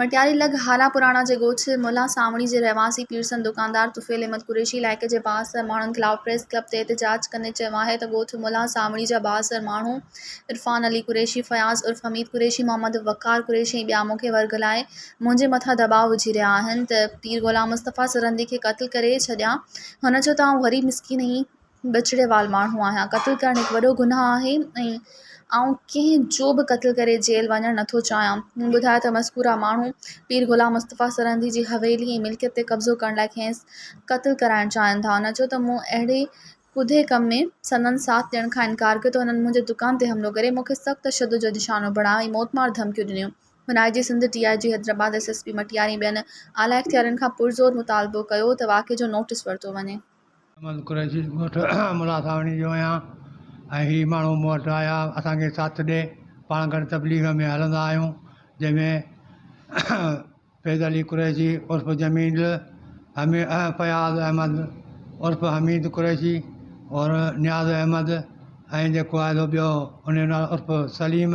مٽياري لڳ هارا پراڻا جي ڳوٺ ملان سانوڻي جي رهواسي پيرسن دڪاندار طفيل احمد قريشي علائقي جي بااثر ماڻهن خلاف پريس ڪلب تي احتجاج ڪندي چيو آهي ته ڳوٺ ملان سانوڻي جا بااثر ماڻهو عرفان علي قريشي، فياض عرف حميد قريشي، محمد وقار قريشي ۽ ٻيا مون کي ورغلائي منهنجي مٿان دٻاء وجهي رهيا آهن ته پير غلام مصطفيٰ سرهندي کي قتل ڪري ڇڏيان هن چيو ته آئون غريب مسڪين ۽ ٻچڙي وال ماڻهو آهيان قتل ڪرڻ هڪ وڏو گناهه آهي ۽ آئون ڪنهن جو به قتل ڪري جيل وڃڻ نه ٿو چاهيان هن ٻڌايو ته مذڪوره ماڻهو پير غلام مصطفيٰ سرهندي جي حويلي ۽ ملڪيت تي قبضو ڪرڻ لاء کيس قتل ڪرائڻ چاهين ٿا هن چيو ته مون اهڙي ڪڌي ڪم ۾ سندن ساٿ ڏيڻ کان انڪار ڪيو ته هنن منهنجي دڪان تي حملو ڪري مون کي سخت تشدد جو نشانو بڻايو ۽ موتمار ڌمڪيون ڏنيون هن I G Sindh, D I G Hyderabad, S S P Matiari ۽ ٻين اعليٰ اختيارين کان پرزور مطالبو ڪيو ته واقعي جو نوٽيس ورتو وڃي. احمد قريشي ڳوٺ ملاح ساوڻي جو آهيان ۽ هي ماڻهو مون وٽ آيا اسان کي ساٿ ڏي پاڻ گڏ تبليغ ۾ هلندا آهيون جنهن ۾ فيض علي قريشي عرف جميل حمي فياض احمد عرف حميد قريشي اور نياز احمد ۽ جيڪو آهي سو ٻيو ان جو نالو عرف سليم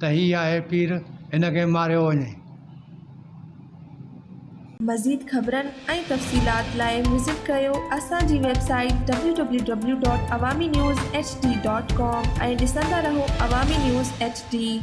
ته هي آهي پير، هن کي ماريو وڃي. مزيد خبرن ۽ تفصيلات لاء وزٽ ڪريو اسان جي website W W W dot Awami news H D dot com ۽ ڏسندا رهو عوامي نيوز ايڇ ڊي.